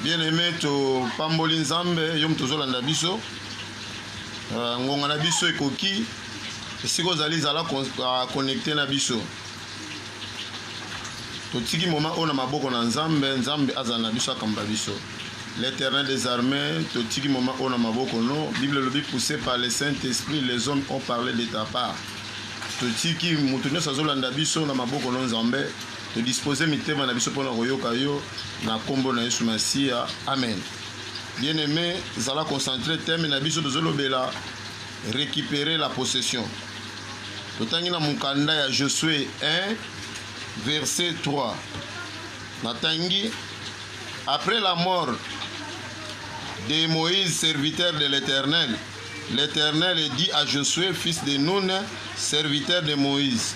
Bien aime topamboli Nzambe yo moto ozolanda biso uh, ngonga na biso ekoki esika ozali zala connecte ah, na biso totiki moma oyo na maboko na Nzambe Nzambe azala na biso akamba biso l'éternel des armées totiki moma oyo na maboko no bible elobi poussé par le saint esprit les hommes ont parlé de ta part totiki moto nyonso azolanda biso na maboko no Nzambe To disposer mitema na biso mpo na koyoka yo na nkombo na Yesu Masiya. Amen. Bien-aime, zala concentre thème na biso tozolobela récupérer la possession. Totangi na mokanda ya Josue 1 verset 3. Natangi après la mort de Moïse serviteur de l'Éternel, l'Éternel dit à Josué fils de Nun serviteur de Moïse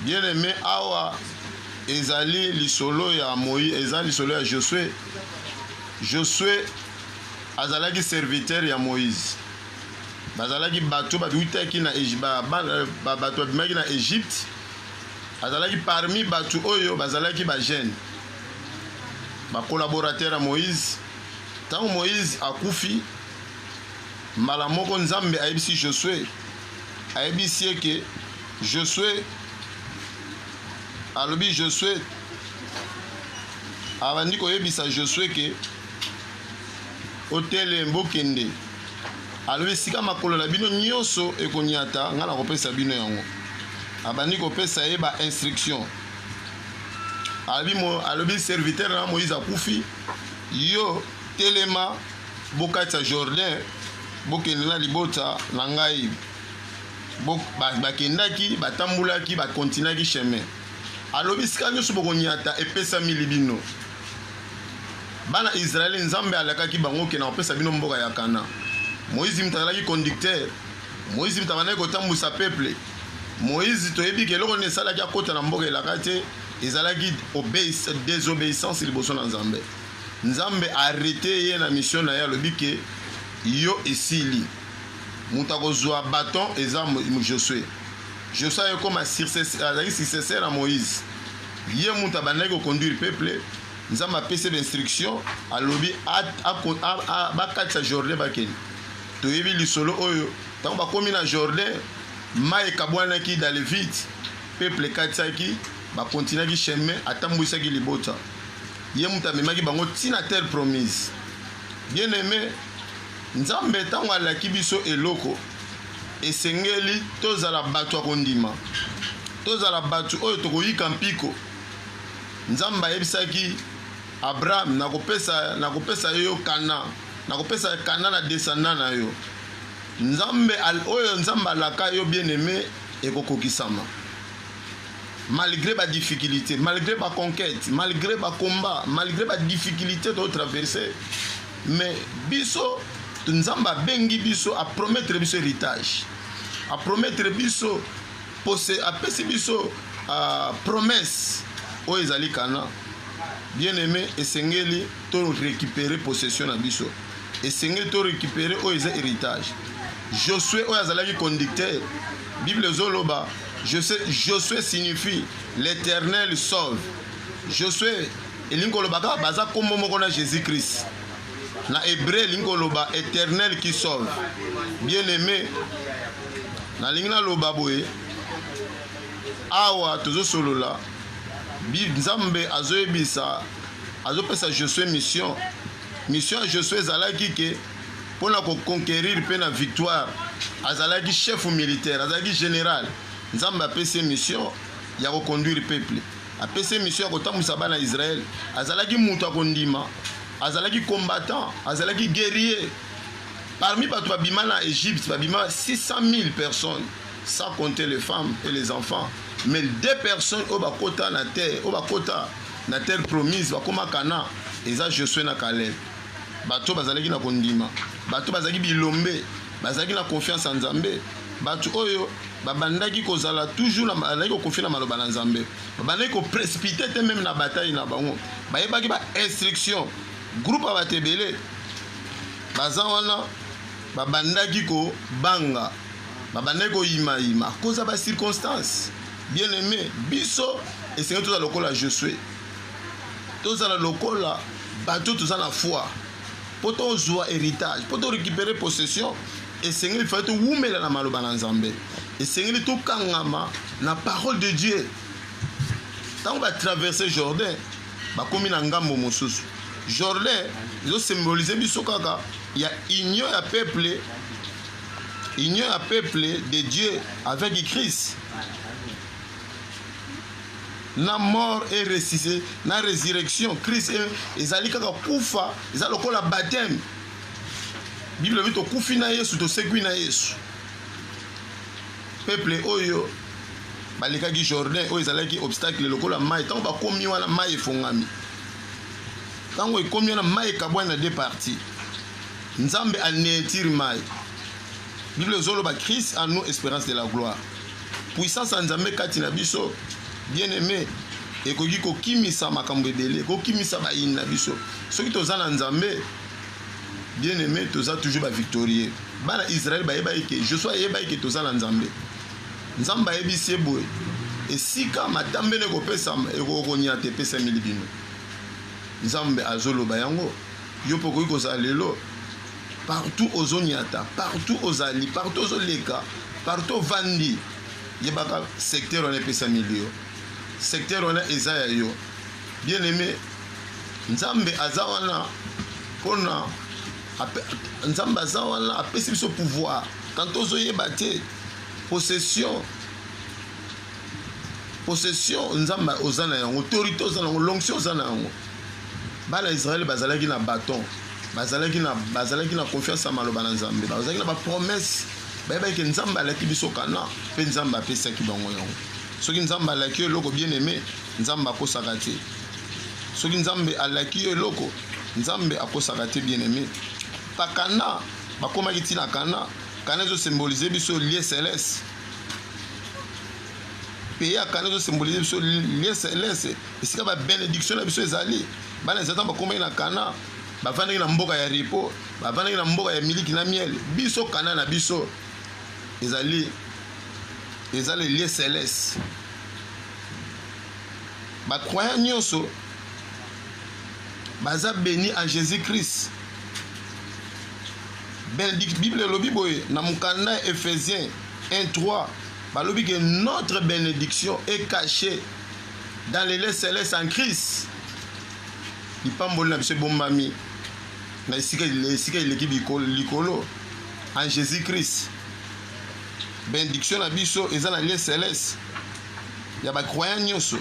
Bien aime awa ezali lisolo ya Moïse, eza lisolo ya Josue. Josue azalaki serviteur ya Moïse, bazalaki bato babutaki na bato babimaki na Egypte, azalaki parmi bato oyo bazalaki bagene bakolaborateur ya Moïse. Ntango Moïse akufi, mbala moko Nzambe ayebisi Josue ayebisi ye ke josue alobi josue abandi koyebisa josue ke otele bokende alobi esika makolo na bino nyonso ekonyata ngai nakopesa bino yango abandi kopesa ye ba instruction alobi, mo, alobi serviteur na moïse akufi yo telema bokatisa jourdain Bokende na libota na ngai. Bo, ba, bakendaki, batambolaki, bakontinaki chemin. Alobi sika nyonso bokonyata epesami li bino. Bana Israele, Nzambe alakaki bango ke nakopesa bino mboka ya Kana. Moïse moto azalaki conducteur. Moïse moto abandaki kotambwisa peuple. Moïse toyebi ke eloko nini esalaki akota na mboka elaka te, ezalaki désobéissance liboso na Nzambe. Nzambe a arreter ye na mission na ye alobi que yo esili. Mutu akozua baton eza Josue. Josue aye koma successeur azalaki successeur ya Moïse. Ye mutu abandaki ko conduire peuple Nzambe apesi ye ba instructions alobi bakatisa Jordan bakende. Toyebi lisolo oyo tango bakomi na Jordan mayi ekabwanaki dans le vide peuple ekatisaki ba continuaki chemin atambuisaki libota. Ye moto amemaki bango ti na terre promise. Bien aime, Nzambe tango alaki biso eloko, esengeli tozala batu ya kondima, tozala batu oyo tokoyika mpiko. Nzambe ayebisaki Abraham, nakopesa, nakopesa yo yo Canaan, nakopesa Canaan na descendant na yo. Nzambe, oyo Nzambe alaka yo bien aime ekokokisama. malgré ba difficulté malgré ba conquête malgré ba combat malgré ba difficulté to traverser mais biso nzambe abengi biso apromettre biso héritage apromettre biso pose apesi biso uh, promesse oyo ezali kana bien aimé esengeli to récupérer possession na biso esengeli to récupérer oyo eza héritage josue oyo azalaki conducteur bible ezoloba Josue, Josue signifie l'Eternel sauve. Josue elingi koloba kaka baza nkombo moko na Jésus Christ. Na hebreu elingi koloba Eternel qui sauve. Bien aimé, nalingi naloba boye, awa tozosolola Nzambe azoyebisa, azopesa Josue mission. Mission ya Josue ezalaki ke mpo na ko conquerir mpe na victoire. Azalaki chef militaire, azalaki general. Nzambe apesi ye mission ya ko conduire peuple, apesi ye mission ya kotambwisa bana ya Israël. Azalaki moto ya kondima, azalaki combattant, azalaki guerrier. Parmi bato babima na Egypte, babima 600 000 personnes, sans compter les femmes et les enfants. Mais deux personnes oyo bakota na terre, oyo bakota na terre promise, bakoma Canaan, eza Josué na Caleb. Bato oyo bazalaki na kondima, bato bazalaki bilombe, bazalaki na confiance ya Nzambe, bato oyo babandaki kozala toujours bazalaki kokonfie na maloba na Nzambe, babandaki koprespite te meme na batai na bango, bayebaki ba instruction. Groupe ya bato ebele baza wana babandaki kobanga, babandaki koyimayima koza ba circonstance. Bien aime biso esengeli tozala lokola Josue. tozala lokola bato toza na foi mpo tozwa héritage mpo to récupérer possession esengeli fai towumela na maloba na nzambe esengeli tokangama na parole de dieu ntango batraverse jordan bakomi na ngambo mosusu jordan ezosymbolize biso kaka ya union ya peuple union ya peuple de dieu avec christ na mort et ressuscité na resurrection christ e, ezali kaka kufa eza lokola baptême bible elobi tokufi na yesu tosekwi na yesu peuple oyo balekaki jordan oyo ezalaki obstacle lokola mai ntango bakomi wana mai efongami ntango ekomi wana mai ekabwani na de parti nzambe aneetiri mai Bible ezo loba Christ en nous esperance de la gloire. Puissance ya Nzambe kati na biso bien aimé ekoki kokimisa makambo ebele, kokimisa bayini na biso. Soki toza na Nzambe bien aimé toza toujours ba victorieux. Bana Israël bayebaki ke Joshua ayebaki ke toza na Nzambe. Nzambe ayebisi ye boye esika matambele ekopesama ekokonyata epesameli bino. Nzambe azoloba yango. Yo pe okoki kozala lelo partout ozo nyata, partout ozali, partout ozo leka, partout ovandi, yebaka secteur wana epesami yo. Secteur wana eza ya yo. Bien aimé, Nzambe aza wana pona Nzambe aza wana apesi biso pouvoir. Quand ozo yeba te possession possession nzambe oza na yango autorité oza na yango lonction oza na yango bana ya Israël bazalaki na bâton bazalaki na bazalaki na confiance ya maloba na Nzambe bazalaki na ba promesse bayebaki ke Nzambe alaki biso kana mpe Nzambe apesaki bango yango soki Nzambe alaki yo eloko bien aimé Nzambe akosaka te soki Nzambe alaki yo eloko Nzambe akosaka te bien aimé pa kana bakomaki ntina kana kana ezo symboliser biso lieu céleste pays ya kana ezosimbolise biso lien celeste esika ba benediction na biso ezali bana ya satan bakomaki na kana bavandaki na mboka ya repo bavandaki na mboka ya miliki na miel biso kana na biso ezali eza le lieu celeste bacroyant nyonso baza beni en jésus christ bible elobi boye na mokanda ya ephésien 1 3 Balobi que notre benediction est cachée dans les lieux célestes en Christ. Lipamboli na biso ebombami na esika esika eleki likolo en Jésus-Christ. Benediction na biso eza na lieu céleste ya ba croyants nyonso.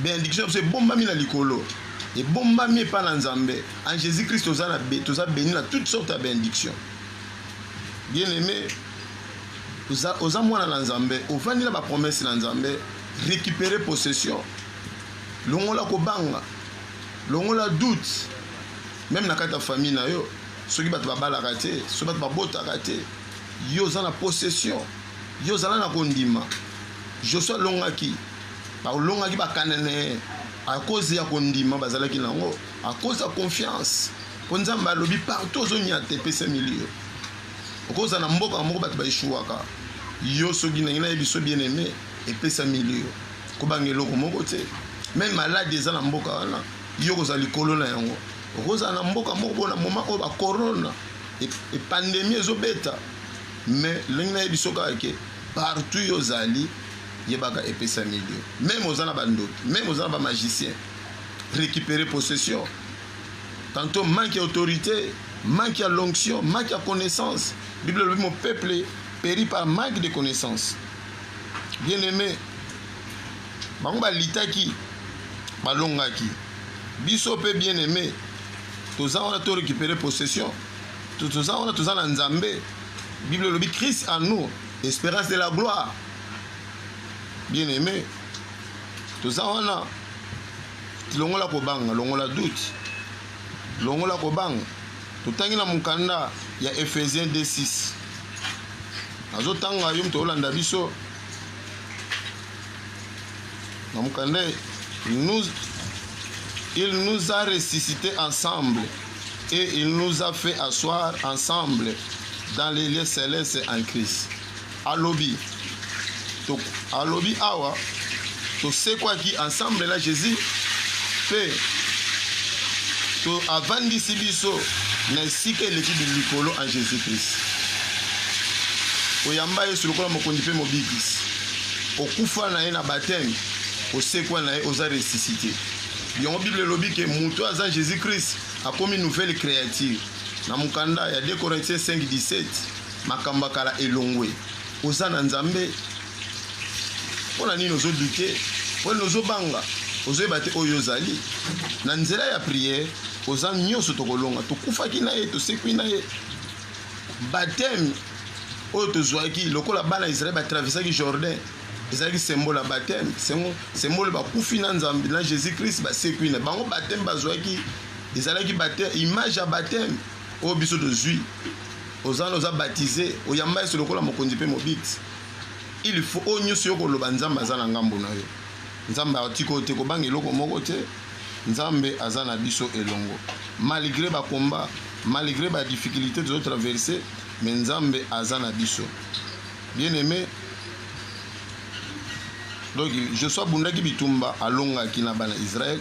Benediction na biso ebombami na likolo. Ebombami epa na Nzambe. En Jésus-Christ toza na toza béni na toutes sortes ya benediction. Bien-aimé, oza, oza mwana na nzambe ovandi na bapromese na nzambe récupere possession longola kobanga longola doute meme na kati ya famille na yo soki bato babalaka te soki bato babotaka te yo oza na possession yo ozala na kondima josue alongaki balongaki bakananee akozi ya kondima bazalaki na yango akozi ya confiance mpo nzambe alobi partout ozonyata epesami liyo Okozala na mboka moko bato ba echouaka yo soki ndenge na yebiso bien aime epesa milieu kobanga eloko moko te meme malade eza na mboka wana yo kozala likolo na yango okozala na mboka moko bona moma oyo ba corona epandemi e ezobeta mais ndenge na yebiso kaka ke partout yo ozali yebaka epesa milieu meme oza na bandoki meme oza na bamagicien récupérer possession Tantôt manque ya autorité, manque ya l'onction, manque ya connaissance. Bible elobi mon peuple périt par manque de connaissance. Bien aimé, bango balitaki balongaki biso mpe bien aimé toza wana to récupérer possession toza wana toza na nzambe bible elobi christ en nous espérance de la gloire bien aimé toza wana Longola kobanga, longola doute, longola kobanga. Totangi na mokanda ya Ephésiens 2:6. Nazotanga yo moto olanda biso na mokanda nous il nous a ressuscité ensemble et il nous a fait asseoir ensemble dans les lieux célestes en Christ. Alobi, to, alobi awa tosekwaki ensemble na Jésus mpe to avandisi biso na esika eleki likolo en Jésus Christ. Oyamba Yesu lokola mokonzi mpe mobikisi, okufa na ye na bateme, osekwa na ye, oza ressuscité. Yango Bible elobi ke moto aza Jésus Christ akomi nouvelle créature na mokanda ya 2 Corinthiens 5:17 Makambo ya kala elongwe. Oza na Nzambe? Pona nini ozo douter? Pona nini ozo banga? Ozo yeba te oyo ozali? Na nzela ya prière, oza nyonso tokolonga. Tokufaki na ye, tosekwi na ye. Baptême oyo tozwaki lokola bana ya Israël ba traversaki Jourdain ezalaki symbole ya baptême, symbole bakufi na Nzambe na Jésus Christ basekwi na bango baptême bazwaki ezalaki baptême, image ya baptême oyo biso tozwi. oza na oza baptise oyamba yesu lokola mokonzi mpe mobikisi il faut oyo nyonso yo koloba nzambe aza na ngambo na yo nzambe atika oyo te kobanga eloko moko te nzambe aza na biso elongo malgré bakomba malgré badifficulté tozo traverse me nzambe aza na biso bien aimé donc joshua abundaki bitumba alongaki na bana israele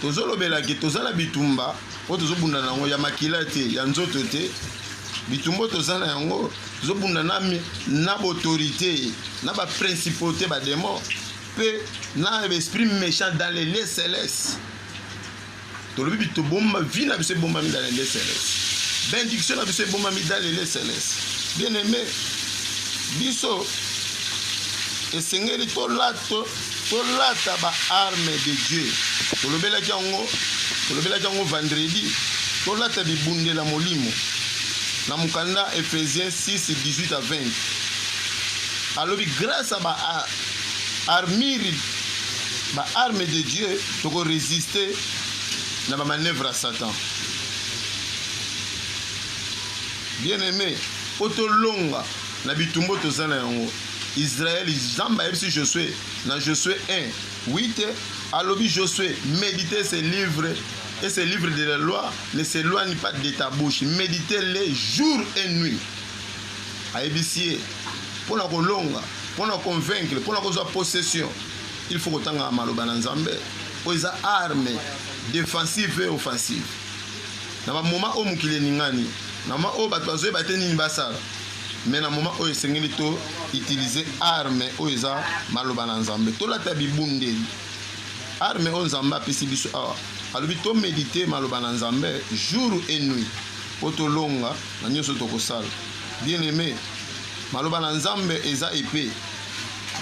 tozolobela ke toza na bitumba oyo tozobunda na yango ya makila te ya nzoto te bitumba oyo toza na yango tozobunda na, na baautorité na baprincipauté bademon mpe na esprit méchant dans les lieux céleste tolobi tobomba vi na biso ebombami dans les lieux céleste bendiction na biso ebombami dans les lieux céleste bien aimé biso esengeli tolata tolata ba arme de dieu tolobelaki yango tolobelaki yango vendredi tolata bibundela molimo na mokanda ephésiens 6 18 à 20 alobi grâce à ba armure ba arme de dieu tokoresiste na bamanœuvre ya satan bien aimé mpo tolonga na bitumbo toza na yango Israël Nzambe ayebisi Josue na Josue 1 8 alobi Josue méditer ce livre et ce livre de la loi ne s'éloigne pas de ta bouche méditer les jour et nuit ayebisi ye mpo na kolonga mpo na convaincre mpo na kozwa possession il faut kotanga maloba na Nzambe oyo eza arme défensive et offensive na bamoma oyo mokili eningani na moma oyo bato bazoyeba te nini basala mais na moment oyo esengeli to utiliser arme oyo eza maloba na nzambe tolata bibundeli arme oyo nzambe apesi biso awa alobi to medite maloba na nzambe jour et nuit mpo tolonga na nyonso tokosala bien aime maloba na nzambe eza epe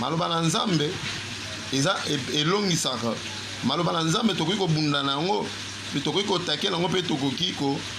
maloba na nzambe eza e-, elongisaka maloba na nzambe tokoki kobunda na yango mpe tokoki kotakela yango mpe tokoki ko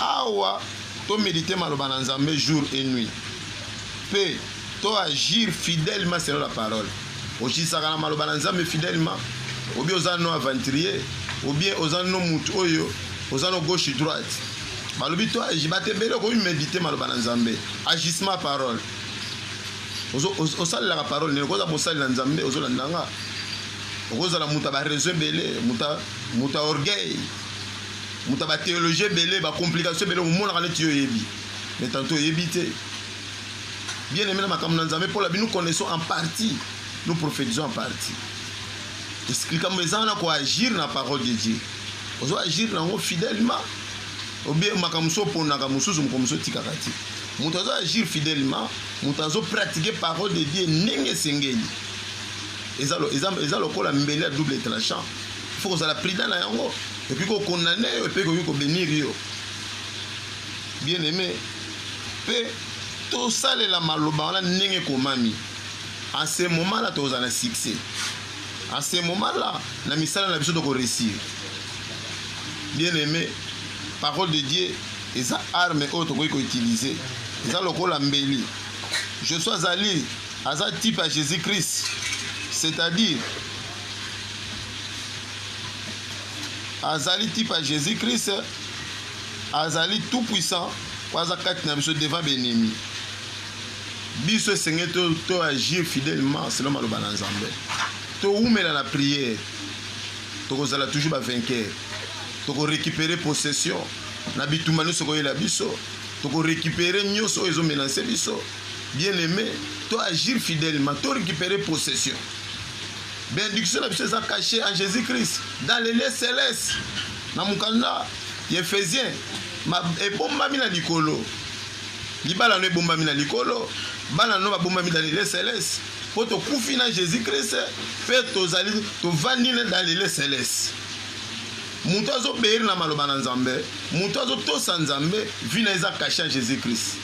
Awa to mediter maloba na Nzambe jour et nuit. Pe to agir fidèlement selon la parole. Okitisaka na maloba na Nzambe fidèlement. Obi oza no aventurier, obi oza no mutu oyo oza no gauche droite. Balobi to agir ba te bele ko mediter maloba na Nzambe. Agissement parole. Ozo osalelaka parole ne koza mosali na Nzambe ozo landanga. Okozala muta ba réseaux bele, muta muta orgueil. moto ya batheologie ebele bacomplication ebele omonaka neti yo oyebi mais tanto oyebi te bien aime na makambo na nzambe mpola bino connaissons en partie nous prophétisons en partie likambo eza wana koagir na parole de dieu ozo agir na yango fidèlement obie makambo mosusu oponaka mosusu moko mosusu otikaka te moto azo agir fidèlement moto azo pratique parole de dieu ndenge esengeli eza lokola mbele ya double tranchant faut kozala prudent na yango Et puis ko condamner yo et puis ko bénir yo. Bien aimé. Pe to salela maloba wana ndenge komami. En ce moment là toza na succès. En ce moment là na misala na biso toko réussir. Bien aimé, parole de Dieu eza arme oyo tokoki ko utiliser. Eza lokola mbeli. Je suis azali aza type ya Jésus-Christ. C'est-à-dire azali type ya jésus christ azali tout puissant po aza kati na biso devant benemi biso esengeli to agir fidèlement selon maloba na nzambe towumela na prière tokozala toujours bavainqueur tokorécupere possession na bitumba nyonso ekoyela biso tokorécupere nyonso oyo ezomenase biso bien aimé to agir fidèlement to récupere possession Benediction na biso eza cache en Jesus Christ dans les lieux celestes na mokanda ya Ephesien ebombami na likolo libala no ebombami na likolo bana no babombami dans les lieux celestes mpo tokufi na Jesus Christ mpe tozali tovandi dans les lieux celestes moto azoberi na maloba na nzambe moto azotosa nzambe vi na eza kashe ya jésus christ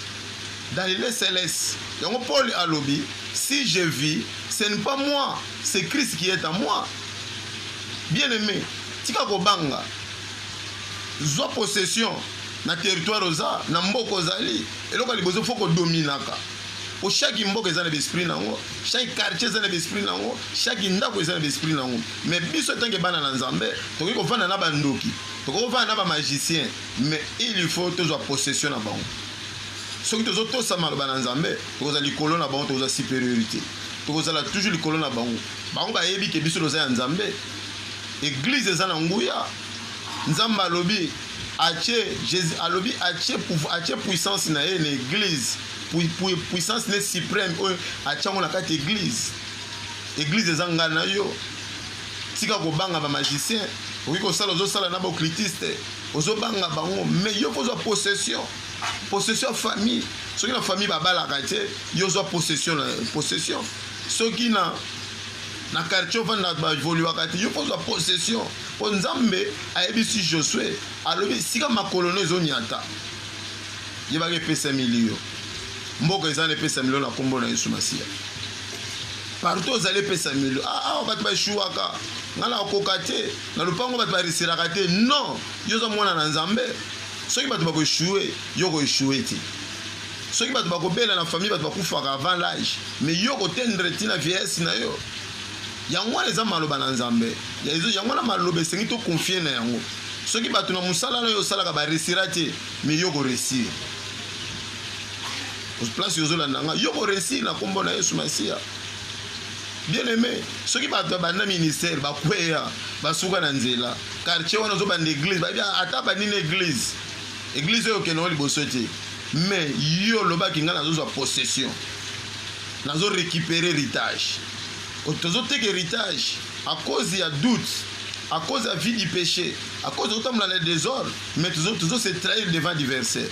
dans lile celeste yango paul alobi si je vis Ce n'est pas moi, c'est Christ qui est en moi. Bien-aimé, tika kobanga. Zwa possession na territoire oza, na mboka ozali. Eloko liboso faut kodominaka. Po chaque mboka eza na esprit nango, chaque quartier eza na esprit nango, chaque ndako eza na esprit nango. Mais biso tanke bana na Nzambe, tokoki kovanda na bandoki, tokoki kovanda na ba magiciens, mais il faut tozwa possession na bango. Soki tozo tosa maloba na Nzambe, tokozala likolo na bango, tokozala superiorite. Tokozala toujours likolo na bango. Bango bayebi ke biso toza ya Nzambe. Eglise eza na nguya. Nzambe alobi atie Jesus alobi atie pouvoir atie puissance na ye na eglise. Puissance ne supreme oyo atiango na kati eglise. Eglise eza ngai na yo. Tika kobanga ba magicien. Okoki kosala ozosala na ba occultiste. Ozobanga bango mais yo kozwa possession. Possession ya famille. Soki na famille babalaka te, yo zwa possession na possession. Soki na na quartier ofanda baevoluaka te yo mpo ozwa possession mpo nzambe ayebisi josue alobi esika makolo no ezonyata yebaka epesami liyo mboka eza na epesami lio na nkombo na yesu masiya partout ozali epesami lio ah, awa bato baeshuwaka ngai nakokoka te na lopango bato barisiraka te non yo oza mwana na nzambe soki bato bako echoue yo oko echoue te soki bato bakobela na famille bato bakufaka avant l'âge mais yo okotendre ti na vieillesse na yo yango wana eza maloba na nzambe yango wana maloba esengi to confie na yango soki bato na mosala na yo osalaka baresira te mais yo koresir place ozolanda nga yo koresir na nkombo na yesu masiya Bien aime, soki bato ya banda ministère bakweya basuka na nzela, quartier wana ozobanda eglise, bayebi ata bandi na eglise, eglise oyo okende yango liboso te, mais yo olobaki ngai nazozwa possession, nazo récupérer héritage, tozoteka héritage à cause ya doute à cause ya vie du péché, à cause tozotambola na désordre, mais tozo se trahir devant adversaire.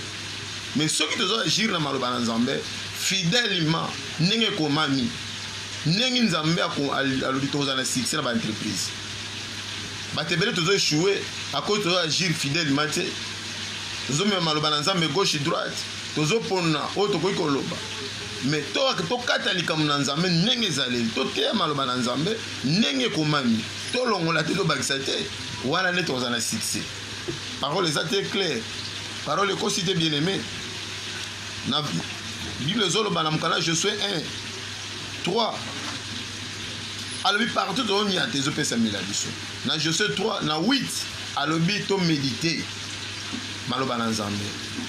Mais soki tozo agir na maloba na Nzambe fidèlement ndenge ekomami Ndenge Nzambe alobi tokozala na succès na ba entreprise. Bato ebele tozo échouer à cause tozo agir fidèlement te. Tozo mema maloba na Nzambe gauche droite, tozo pona oyo tokoki koloba. Mais to tokata likambo na Nzambe ndenge ezaleli, toteya maloba na Nzambe ndenge ekomami, tolongola te tobakisa te, wana nde tokozala na succès. Parole eza te clair. Parole ekosi te bien-aimé. Na Bible ezoloba na mokanda Josue 1 3 alobi partout tozonia te ezopesamela biso na jose 3 na 8 alobi tomedite maloba na nzambe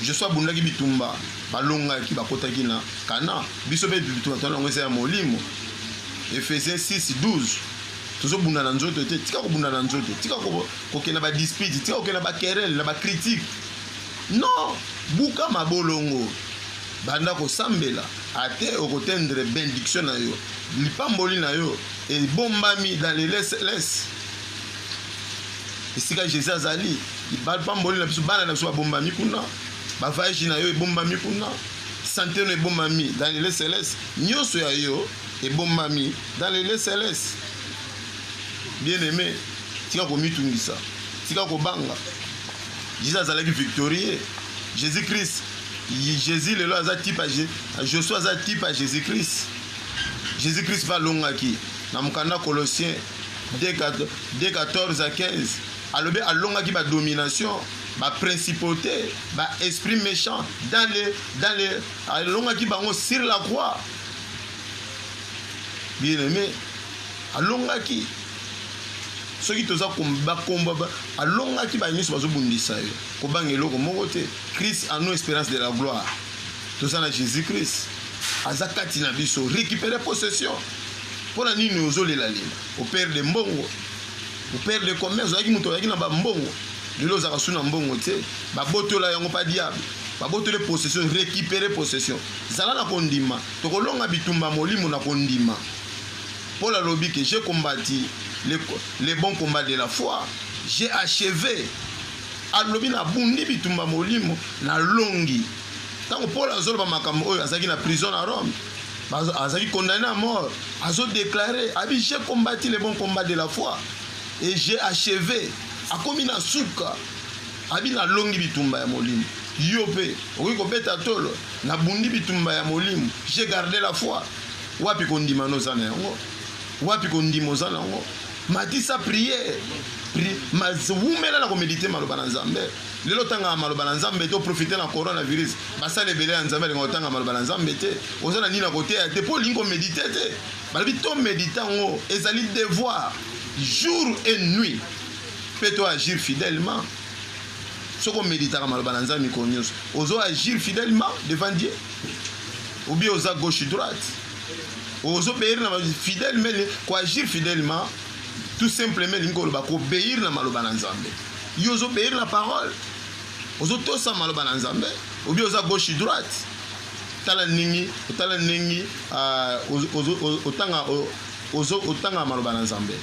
jose abundaki bitumba balongaki bakotaki na kana biso mpe bitumba tona yango eza ya molimo efese 6 12 tozobunda na nzoto te tika kobunda na nzoto tika kokenda badispute tika kokenda bakerele na bakritike non buka mabolongo Banda kosambela, ate okotendre bendiction na yo. Lipamboli na yo ebombami dans les lesles. Esika Jésus azali, lipamboli na biso, bana na biso babombami kuna, bavayage na yo ebombami kuna, sante no ebombami dans les lesles, nyonso ya yo ebombami dans les lesles. Bien aimé, tika komitungisa, tika kobanga. Jésus azalaki victorieux. Jésus-Christ Jésus lelo aza type ya Josué aza type ya Jésus Christ. Jésus Christ mpe alongaki na mokanda Colossien 2:14 à 15 alobi alongaki ba domination ba principauté ba esprit méchant dans les dans les alongaki bango sur la croix bien aimé alongaki soki toza bakomba alongaki baye nyonso bazobundisa ye Kobanga eloko moko te. Christ en nous esperance de la gloire. Toza na Jesus Christ. Aza kati na biso. Récupérer possession. Pona nini ozolela lela? Au père de mbongo. Au père de commerce. Ozalaki moto oyaki na ba mbongo. Lelo ozaka suna mbongo te. Babotola yango pa diable. Babotole possession, récupérer possession. Zala na kondima. Tokolonga bitumba molimo na kondima. Paul alobi que j'ai combattu le, le bon combat de la foi. J'ai achevé Alobi, Nabundi bitumba molimo, nalongi. Ntango Polo azoloba makambo oyo, azalaki na prison na Rome, azalaki condamne à mort, azo declare abi j'ai combattu le bon combat de la foi et j'ai achevé, akomi na suka, abi nalongi bitumba ya molimo. Yo mpe okoki kobeta tolo, nabundi bitumba ya molimo, j'ai garde la foi. Wapi kondima noza na yango? Wapi kondima oza na yango? matisa priere pri, mas, wumela na komedite maloba na nzambe lelo otangaka maloba na nzambe te oprofite na coronavirus basala ebele ya nzambe alinga otanga maloba na nzambe te oza na nini na koteya te mpo olingi komedite te balobi tomedite yango ezali devoir jour et nuit mpe to agir fidèlement soki omeditaka maloba na nzambe mikolo nyonso ozo agir fidèlement devant dieu obi oza gauche droite ozo beir na ba fidèle mele ko agir fidèlement tout simplement elingi koloba ko beir na maloba na nzambe yo ozo beir na parole ozo tosa maloba na nzambe obi oza gauche droite tala ndenge otala ndenge ah, otanga ozo otanga maloba na nzambe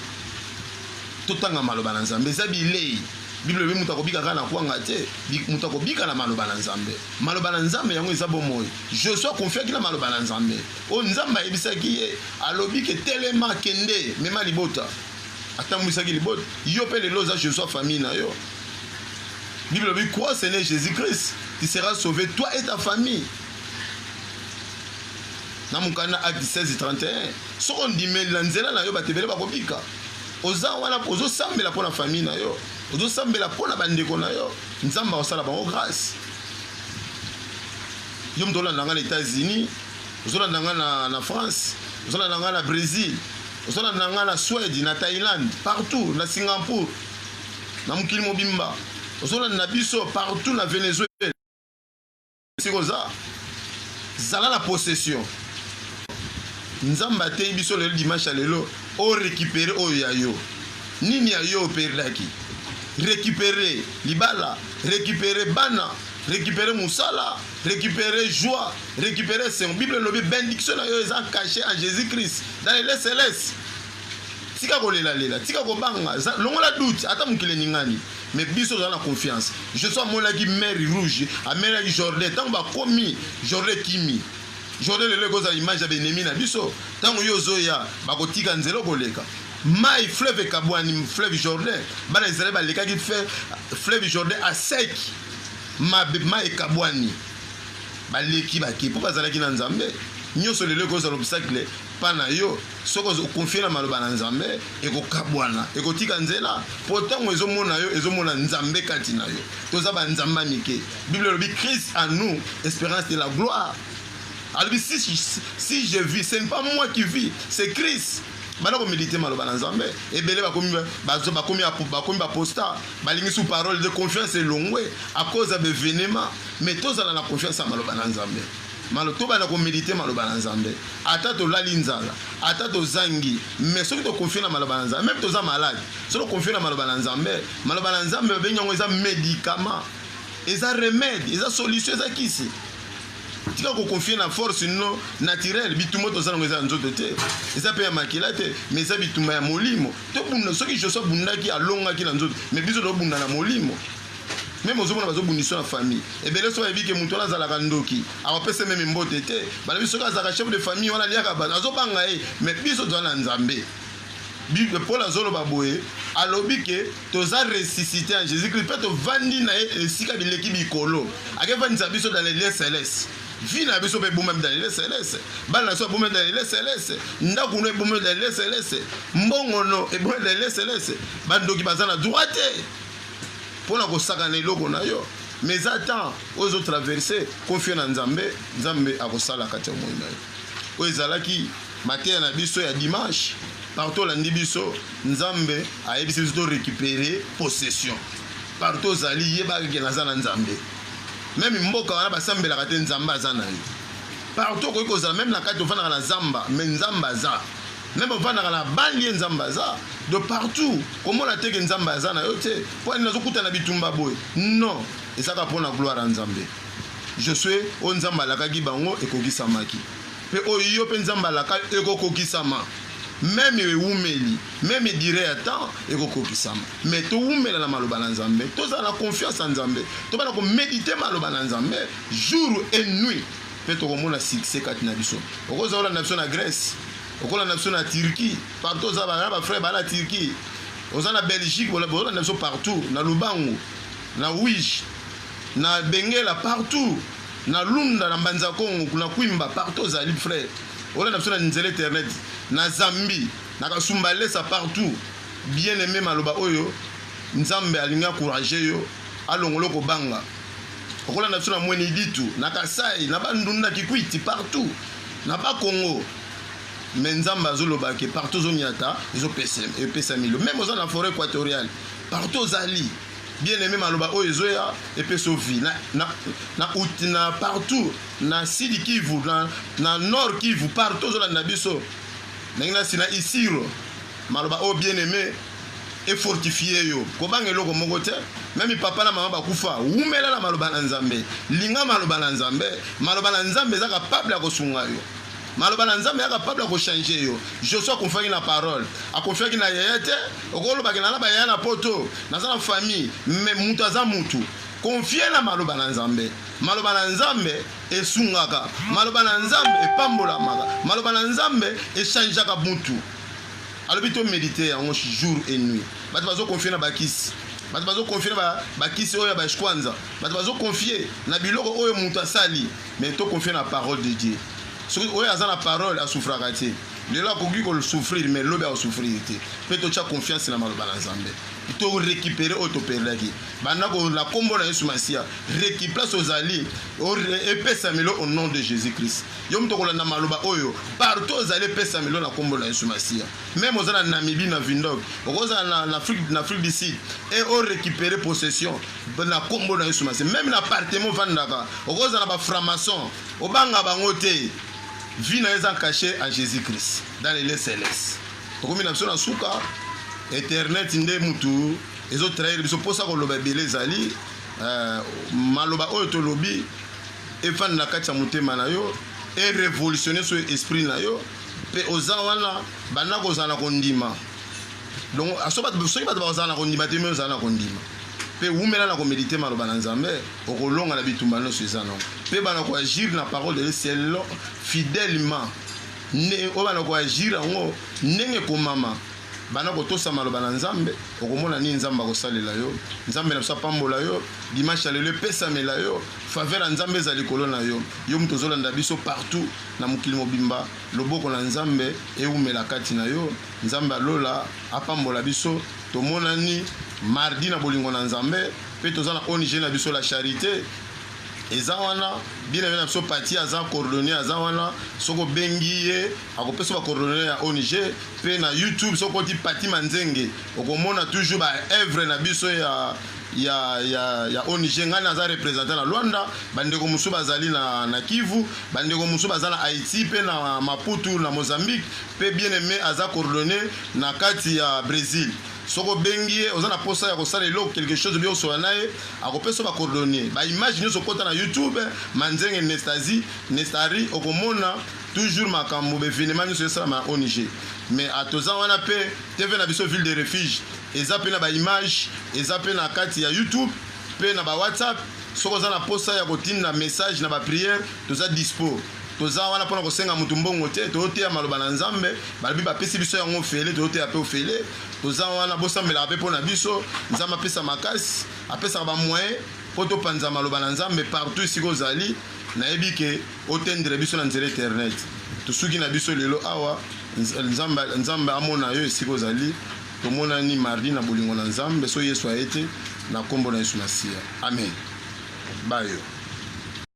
totanga maloba na nzambe eza bilei biblia elobi moto akobika kaka na kwanga te moto akobika na maloba na nzambe maloba na nzambe yango eza bomoi Josue akonfiaki na maloba na Nzambe oyo Nzambe ayebisaki ye, alobi ke telema, kende, mema libota. Atambwisaki libota. Yo pe lelo oza Josue ya famille na yo. Bible elobi crois Seigneur Jesus Christ, tu seras sauve toi et ta famille. Na mokanda acte 16 31 soko ondimeli na nzela na yo bato ebele bakobika. Oza wana mpo ozosambela mpo na famille na yo, ozosambela mpo na bandeko na yo, Nzambe akosala bango grâce. yo moto olanda ngai na états-unis ozolanda ngai na, na france ozolanda ngai na brésil ozolanda ngai na swede na thaïlande partout na singapour na mokili mobimba ozolanda biso partout na venezuela esika oza zala na possession nzambe ateyi biso lelo dimanche ya lelo orekipere oyo ya yo nini ya yo operdaki rekipere libala recuperer bana recuperer musala recuperer joie recuperer sengo bible elobi bendiction na yo eza cache en jésus christ dans les lieux célestes tika kolelalela tika kobanga longola doute ata mokili eningani mais biso tozala na confiance jesus amonaki mer rouge amelaki jordan ntango bakomi jordan ekimi jordan lelo ekozala image ya benemi na biso ntango yo ozoya bakotika nzela okoleka Mayi fleuve ekabwani fleuve Jordan bana Israël balekaki fleuve Jordan à sec mabe mayi ekabwani baleki bake mpo bazalaki na Nzambe nyonso lelo ekozala obstacle pa na yo soki okonfie na maloba na Nzambe ekokabwana ekotika nzela mpo ntango ezomona yo ezomona Nzambe kati na yo toza banzambe ya mike Bible elobi Christ à nous espérance de la gloire alobi si, si je vis ce n'est pas moi qui vis c'est Christ banda komedite maloba na nzambe ebele bakomi bakomi bakomi baposta balingi su parole de confiance elongwe a cause ya bevenema mais tozala na confiance ya maloba na nzambe malo tobanda komedite maloba na nzambe ata tolali nzala ata tozangi mais soki tokonfie na maloba na nzambe meme toza malade soki tokonfie na maloba na nzambe maloba na nzambe babengi yango eza medicament eza remede eza solution eza kisi tika ko confie na force non naturelle bitumba toza nango eza ya nzoto te eza mpe ya makila te mais eza bitumba ya molimo tobunda soki joso abundaki alongaki na nzoto mais biso tobunda na molimo meme ozomona bazobundisa na famille ebele so bayebi ke moto wana azalaka ndoki akopesa meme mbote te balobi soki azalaka chef de famille wana aliaka bato azobanga ye mais biso toza na nzambe Bible Paul azoloba boye, alobi ke toza ressuscite en Jesus Christ pe tovandi na ye esika bileki bikolo. Akevandisa biso dans les lieux celestes. Vie na biso pe ebombami dans les lieux celestes. Bana na biso babombami dans les lieux celestes. Ndako no ebombami dans les lieux celestes. Mbongo no ebombami dans les lieux celestes. Bandoki baza na droit te mpo na kosakana eloko na yo mais eza temps oyo ezotraverse konfio na nzambe nzambe akosala kati ya moi na yo oyo ezalaki Mateya na biso ya dimanche partout olandi biso nzambe ayebisi biso to récupérer possession partout ozali yebaka ke naza na nzambe meme mboka wana basambelaka te nzambe aza na yo partout okoki kozala meme na kati ofandaka na zamba me nzambe aza meme ofandaka na banlie nzambe aza de partout komona te ke nzambe aza na yo te mpo ani nazokuta na bitumba boye non ezaka mpo na gloire ya nzambe je suis oyo nzambe alakaki bango ekokisamaki Mpe oyo iyo, mpe Nzambe alaka, ekokokisama. Meme oyo ewumeli, meme duree ya temps, ekokokisama. Mais towumela na maloba na Nzambe, tozala na confiance na Nzambe, tobanda ko mediter maloba na Nzambe jour et nuit, mpe tokomona succès kati na biso. Okoza olanda biso na Grèce, okolanda biso na Turquie, partout oza ba ba frère ba na Turquie, oza na Belgique, bolanda biso partout, na Lubangu, na Uige, na Benguela, partout. Na lunda na mbanza kongo kuna kwimba partout ozali frère olanda biso na nzela eternet na zambi na kasumba lesa partout bien aime maloba oyo nzambe alingi akourage yo alongola okobanga okolanda biso na mweni ditu na kasai na bandundu na kikwiti partout na bakongo me nzambe azoloba ke partout ozonyata ezopesa milo meme oza na foret equatoriale partout ozali Bien aime maloba oyo ezoya epesa vie na, na, na, ut, na partout na sidi kivu na, na nord kivu partout ozolanda biso ndenge nasi na isiro maloba oyo bien aime efortifie yo kobanga eloko moko te meme papa na mama bakufa wumela na maloba na nzambe linga maloba na nzambe maloba na nzambe eza kapable ya kosunga yo Maloba na Nzambe ya capable ya ko changer yo. Josue akonfiaki na parole, akonfiaki na yaya te. Okoloba ke nana ba yaya na poto, naza na famille, mais mutu aza mutu. Confie na maloba na Nzambe. Maloba na Nzambe esungaka. Maloba na Nzambe epambolamaka. Maloba na Nzambe echangeaka mutu. Alobi to mediter yango jour et nuit. Bato bazo confie na bakisi. Bato bazo confie na bakisi oyo ya ba shkwanza. Bato bazo confie na biloko oyo mutu asali. Mais to confie na parole de Dieu. Soki oyo aza na parole a souffraka te. Lelo akoki ko souffrir mais lobi a souffrir te. Pe to tia confiance na maloba na Nzambe. To récupérer oyo to perdaki. Banda ko na kombo na Yesu Masia. Récupère place ozali. Epesamelo au nom de Jésus Christ. Yo mto kolanda maloba oyo. Partout ozali epesamelo na kombo na Yesu Masia. Même ozana Namibie na Vindog. Okozana na Afrique na Afrique du Sud. Et o récupérer possession. na kombo na yesu masi meme na apartement ofandaka okozala na bafranmaçon obanga bango te vie na eza cache en jésus christ dans les lieux céleste tokomi na biso na suka internet nde mutu ezotrahire biso mposa koloba ebele ezali euh, maloba oyo tolobi efanda na kati ya motema na yo erevolutionne so esprit na yo mpe oza wana banda kozala na kondima donc ah, soki bato bakozala na kondima te me ozala na kondima mpe wumela na komedite maloba na nzambe okolonga na bitumba nyonso eza nango mpe bana koagir na parole de selon fidèlement oyo bana koagir yango ndenge ekomama bana kotosa maloba na nzambe okomona nini nzambe akosalela yo nzambe na biso apambola yo dimanche ya lelo epesamela yo faveur ya nzambe eza likolo na yo yo moto ozolanda biso partout na mokili mobimba loboko na nzambe ewumela kati na yo Nzambe ya lola apambola biso tomonani mardi na bolingo na Nzambe pe toza na ONG na biso la charite eza wana bina bina biso pati aza coordonne aza wana soki obengi ye akopesa bacoordonne ya ong mpe na youtube soki okoti pati manzenge okomona toujours baevre na biso ya ya, ya, ya ong ngai naza representant na lwanda bandeko mosusu bazali na, na kivu bandeko mosusu baza na haïti mpe na maputu na mozambique pe bien aime aza coordonne na kati ya bresil soki obengi ye oza na posa ya kosala eloko quelque chose obi osola na ye akopesa yo ba coordonne ba image nyonso kota na youtube manzenge nestasi nestari okomona toujours makambo ba evenement nyonso esalama na ong mais atoza wana pe tv na biso ville de refuge eza pe na ba image eza pe na kati ya youtube pe na ba whatsapp soki oza na posa ya kotinda message na ba priere toza dispo Toza wana pona kosenga mutu mbongo te, tozoteya maloba na Nzambe, balobi bapesi biso yango ofele, tozoteya pe ofele, toza wana bosambelaka pe pona biso, Nzambe apesa makasi, apesaka ba moyen po topanza maloba na Nzambe partout esika ozali, nayebi ke otendre biso na nzela eternet, tosuki na biso lelo awa, Nzambe, Nzambe amona yo esika ozali, tomonani mardi na bolingo na Nzambe, soki Yesu aye te, na kombo na Yesu Masiya, amen, bayo.